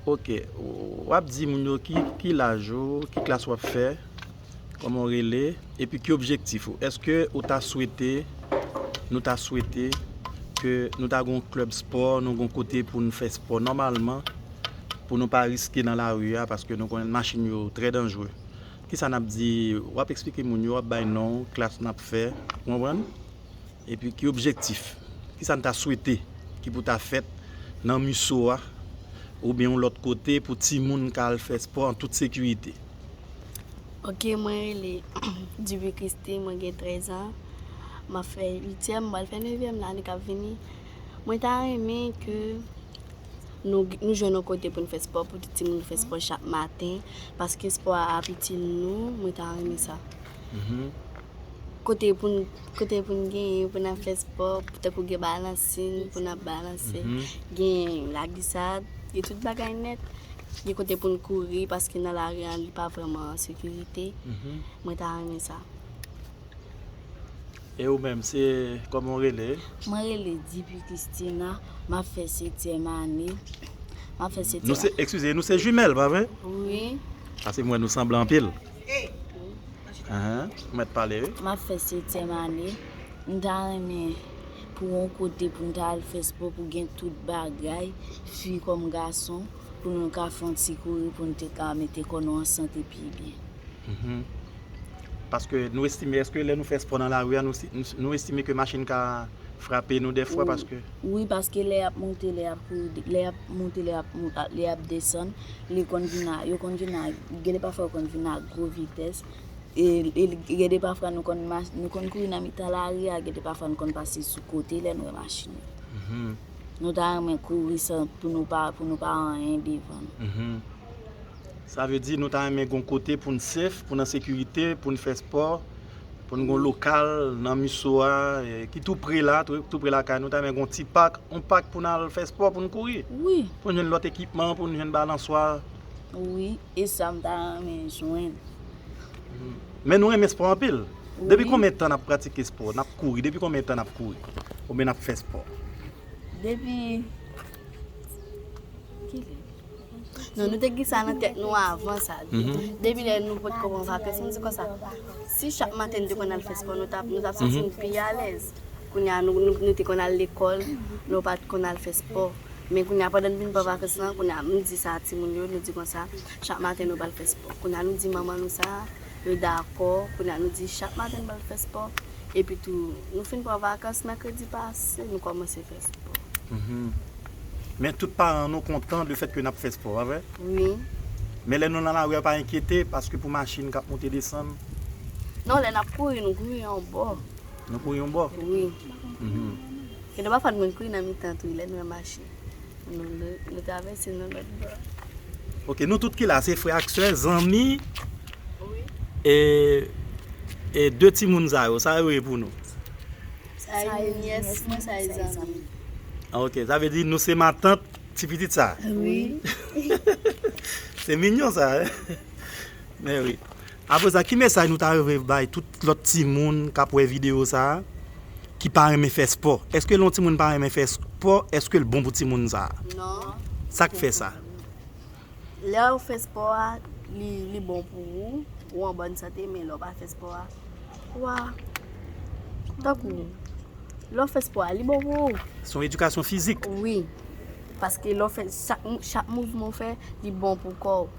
Ok wap di moun yo ki laj ou, ki klas wap fè, kòman ou rele, epi ki objektif ou. Eske ou ta swete, nou ta swete ke nou ta gon klèb spò, nou gon kote pou nou fè spò nòmalman, pou nou pa riske nan lari a, paske nou konnen machin yo trè danjre. Kisa nap di, wap esplike moun yo, wap bay non, klas nap fè, ou konprann? Epi ki objektif, kisa n ta swete ki pou ta fèt nan MUSO a oubyen yon lòt kote pou timoun ka al fè spò an tout sekirite? Ok mwen rele Duvy Christie mwen gen 13 ans map fè 8 tièm m pral fè 9 vièm nan ane kap vini mwen ta renmen ke nou nou jwenn yon kote poun fè spò pou tout timoun fè spò chak maten paske spò a ap itil nou mwen ta renmen sa. kote pou nou, kote pou nou genyen, pou nan fè spò, tan kou gen balansin, pou nan balanse, genyen la glisad, gen tout bagay nèt, gen kote pou nou kouri, paske nan la ri an li pa vreman an sekirite, mwen ta renmen sa. E ou menm, se, kòman ou rele? Mwen rele Dipi Christina, map fè setyèm ane, map fè setyèm ane. Nou se, ekskize, nou se jumèl, pa vre? Wi. Paske mwen nou sanble anpil. M ap fè setyèm ane, m ta renmen pou yon kote pou m ta al fè spò pou gen tout bagay, fi kòm gason, pou nou ka fè yon ti kouri pou nou te ka mete kò nou an sante pi byen. Paske nou estime, eske lè nou fè spò nan lari a, nou estime ke machin ka frape nou dèfwa paske. Wi, paske lè y ap monte, lè y ap kouri, lè y ap. moute lè yap moute lè yap desann li konn vin a yo konn vin a gen de pafwa yo konn vin a gwo vitès e gen de pafwa nou konn mache nou konn kouri nan mitan lari a gen de pafwa nou konn pase sou kote lè nou wè machin nan nou ta renmen kouri san pou nou pa pou nou pa anyen devan sa vle di nou ta renmen gon kote poun sef poun an sekirite poun fè spò. pou nou gen yon lokal nan MISO a ki tou pre la, tou pre lakay nou, ta renmen gen yon ti pak, yon pak pou nou al fè spò, pou nou kouri. Wi. Pou nou jwenn lòt ekipman, pou nou jwenn balanswa. Wi, e sa m ta renmen jwenn. Men nou renmen spò anpil. Wi. Depi konbyen tan n ap pratike spò, n ap kouri, depi konbyen tan n ap kouri oubyen n ap fè spò? Depi. Non, nou te ki sa nan tèt nou avan sa. Mhm. Depi lè nou pot kòman va pès, nou di kon sa. Si chak maten nou te kon al fès pò, nou tap nou tap santi nou mhm. pi alèz. Kounye a nou nou te kon al lekòl, nou pat kon al fès pò. Men kounye a pandan nou vin pa va fès lan, kounye a nou di sa ti moun yo, nou di kon sa, chak maten nou bal fès pò. Kounye a nou di manman nou sa. Nou dakò, kounye a nou di chak maten nou pral fè spò, epi tou nou fin pran vakans mèkredi pase nou kòmanse fè spò. Hum. Men tout paran nou kontan de fèt ke nap fè spò, pa vre? Wi. Men lè nou nan lari a pa enkyete paske pou machin kap moute desann? Non, lè nap kouri nou kouri yon bò. Nou kouri yon bò? Wi. Hum. Gen de pafwa nou menm kouri nan mitan tou wi lè nou wè machin. Nou travèse nan lòt bò. Ok, nou tout ki la se frè ak sè, zanmi. Wi. E, e de timoun sa yo, sa yo ye pou nou? Sa yo ye nyès mwen, sa yo ye zanmi m. Ok, sa vle di nou se matant ti pitit sa? Wi. Se minyon sa, hein? Mèwi. Apre sa, ki mesaj nou ta renmen bay tout lòt timoun k ap wè videyo sa a ki pa renmen fè spò? Èske lè yon timoun pa renmen fè spò, èske l bon pou timoun sa a? Non. Sa k fè sa? Lè w fè spò a, li bon pou ou, ou an bòn sante, men lè w pa fè spò a, ou a. Tankou, lè w fè spò a, li bon pou ou. Se yon edikasyon fizik. Wi. Paske lè w fè, chak mouvman w fè, li bon pou kò w.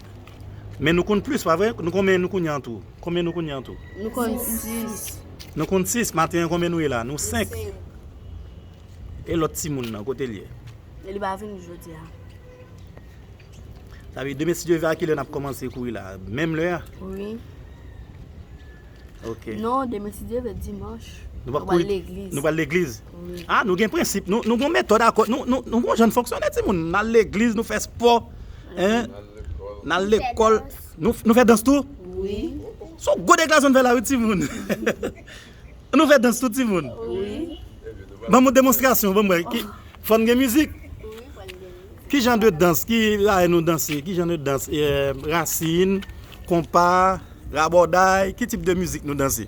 Men nou konn plis, pa vre? Nou konben nou kounye an tou? Konben nou kounye an tou? Nou konn 6. Nou konn 6. Maten an konben nou ye la? Nou 5. E lòt timoun nan, kote l ye? Li pa vini jodi a. Sa vle di demen si Dye vle a ki lè n ap kòmanse kou la? Menm lè a? Wi. Ok. Non, demen si Dye vle dimanch. Nou pap kouri. Nou pral legliz. Nou pral legliz. Wi. Ah nou gen prensip, nou nou gon metòd akò, nou nou nou gon jan n fonksyone ti moun. N al legliz, nou fè spò. Hein? N al lekòl. N al lekòl. Nou nou fè dans tou? Wi. S on gwo deklarasyon n fè la wi ti moun. Nou fè dans tou ti moun? Wi. Ebyen nou pral Ban m on demonstrasyon, ban m wè. Ki Fò n gen mizik? Wi, fò n gen mizik. Ki jan de dans ki rayi nou danse? Ki jan de dans rasin, konpa, rabòday? Ki tip de mizik nou danse?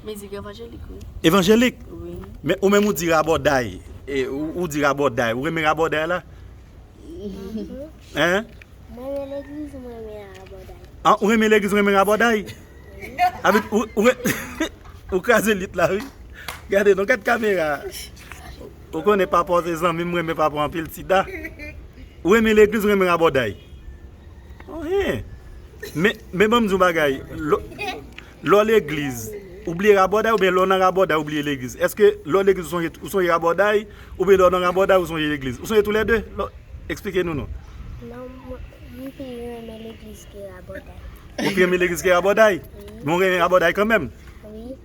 Mizik evanjelik wi. Evanjelik? Wi. Men ou menm ou di rabòday. Ou di rabòday. Ou renmen rabòday la? Hein? Mwen renmen legliz mwen renmen rabòday. An ou renmen legliz ou renmen rabòday? Wi. Ou kraze lit la wi. Gade non, gad kamera. Ou konnen papa w se zanmi m renmen papa w anpil ti da ou renmen legliz ou renmen raboday oh hen men banm di w yon bagay lè w legliz ou bliye raboday oubyen lè w nan raboday ou bliye legliz eske lè w legliz ou sonje raboday oubyen lè w nan raboday ou sonje legliz ou sonje tou lè 2 esplike nou non m pi renmen legliz ke raboday ou pi renmen legliz ke raboday men w renmen raboday kanmèm wi.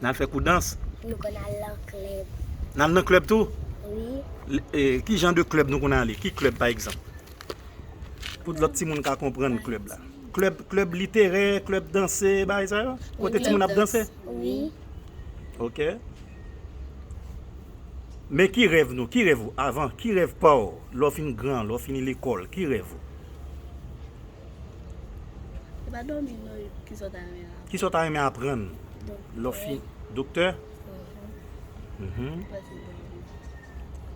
Nal fè kou dans? Nou konn al lan klèb. Nal nan klèb tou? Wi. Ki jan de klèb nou konn ale? Ki klèb pa egzanp? Pou lòt timoun ka konprann klèb la. Klèb literè, klèb danse, bagay sa yo? Kote timoun ap danse? Wi. Ok. Men ki rèv nou? Ki rèv ou? Avan, ki rèv pa ou? Lè w fin gran, lè w fini lekòl, ki rèv ou? E pa domi non kisa w ta renmen aprann. Kisa w ta renmen aprann lè w fin doktè?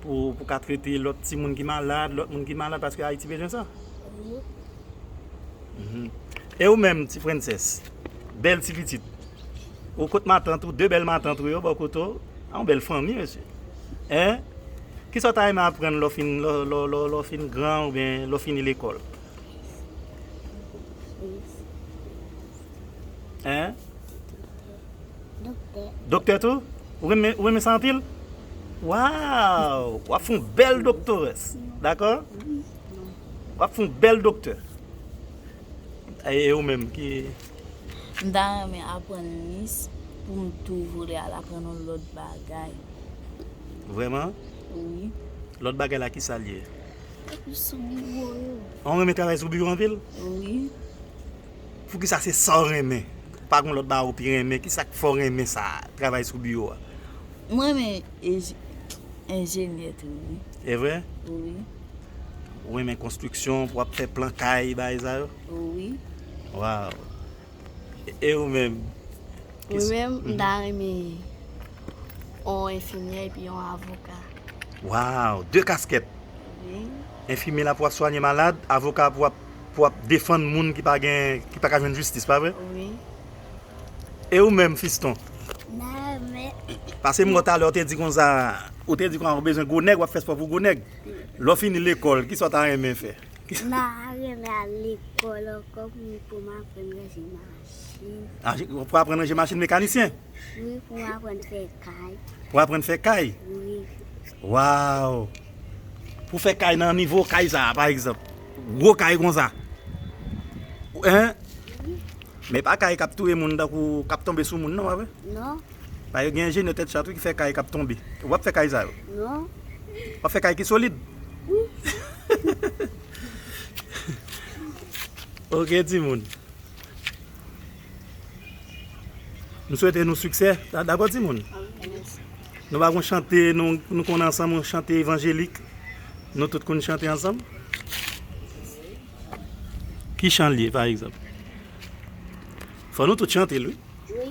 Pou w ka trete lòt timoun ki malad, lòt moun ki malad paske Ayiti bezwen sa. E ou menm ti Prensès, bèl ti pitit. Ou kot matant ou, de bèl matant ou yo bò kote w. A yon bèl fanmi mesye. Kisa w ta renmen aprann lè w fin gran oubyen lè w fini lekòl? Hein? Doktè. Doktè tou? Ou renmen, ou renmen sa anpil? Waw! Wap foun bèl doktores. Dakò? Wap foun bèl doktè. E ou menm ki? M ta renmen aprann mis pou m tou vole al aprann yon lòt bagay. Vreman? Wi. Lòt bagay la kisa l ye? Travay sou biwo yo. Ou renmen travay sou biwo anpil? Wi. Poukisa se sa ou renmen? Pa gen lòt bagay ou pi renmen? Kisa k fè ou renmen sa, travay sou biwo a? M renmen enjenyè tou wi. E vre? Wi. Ou renmen konstriksyon pou w ap fè plan kay bagay sa yo? Wi. Waw! E ou menm? Mwen menm, m ta renmen yon enfimyè epi yon avoka. Waw, 2 kaskèt. Wi. Enfimyè la pou ap swanye malad, avoka a pou ap defann moun ki pa gen, ki pa ka jwenn jistis, pa vre? Wi. E ou menm Fiston? M ta renmen. Pase m wè w talè ou te di konsa, ou te di konsa ou bezwen gwo nèg, w ap fè spò pou gwo nèg. Lè w fini lekòl, kisa w ta renmen fè? M'a renmen al lekòl ankò pou m pou m aprann ranje machin. A pou w aprann ranje machin mekanisyen? Wi pou m aprann fè kay. Pou w aprann fè kay? Wi. Waww! Pou w fè kay nan nivo kay sa a pa egzanp. Gwo kay konsa. Hein? Wi. Men pa kay k'ap touye moun tankou k'ap tonbe sou moun non pa vre? Non. Ba yo gen enjenyè tèt chat wi ki fè kay kap tonbe. Wap fè kay sa yo? Non. Wap fè kay ki solid? Wi. Ok timoun. M swete nou siksè. Dakò timoun? Mèsi. Nou pa gon chante nou konn ansanm yon chante evanjelik nou tout konn chante ansanm? Ki chan l ye pa egzanp? Fò nou tout chante l wi. Wi.